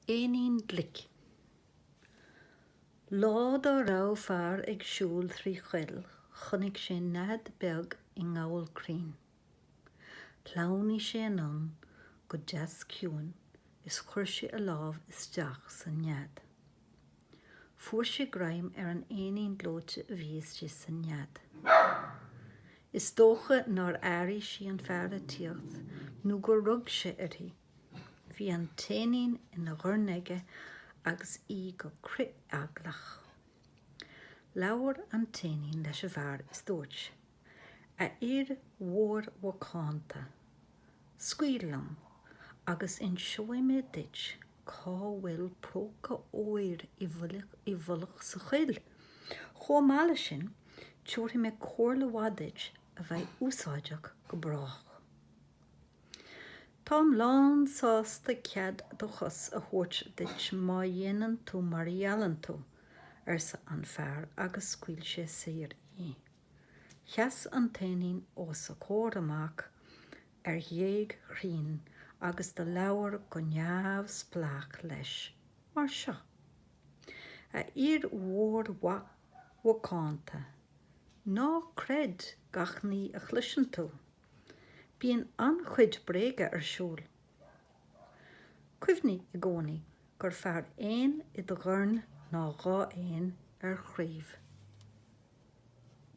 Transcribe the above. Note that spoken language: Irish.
Éinín glic. Lá dá raibh fear ag siúl trí choill chonaic sé nead beag i ngabhal crainn. Shleamhnaigh sé anonn go deas ciúin is chuir sé a lámh isteach san nead. Fuair sé greim ar an éinín gleoite a bhí istigh sa nead. Is dócha nár airigh sí an fear ag tíocht nó gur rug sé uirthi. Bhí an t-éinín ina dhorn aige agus í go crith-eaglach. Labhair an t-éinín leis an bhfear is dúirt. A fhir mhóir mhacánta, scaoil liom agus inseoidh mé duit cá bhfuil próca óir i bhfolach sa choill. Chomh maith leis sin, tabharfaidh mé comhairle mhaith duit a bheidh úsáideach go brách. Táim lán sásta cead do chos a thabhairt duit má dhéanann tú mar a gheallann tú, arsa an fear agus scaoil sé saor í. Sheas an t-éinín os a chomhair amach ar ghéag chrainn agus do labhair go neamhspleách leis mar seo, A fhir mhóir mhaith mhacánta, ná creid gach ní a chloiseann tú. Bíonn an-chuid bréaga ar siúl. Cuimhnigh i gcónaí gur fearr éan i do dhorn ná dhá éan ar chraoibh.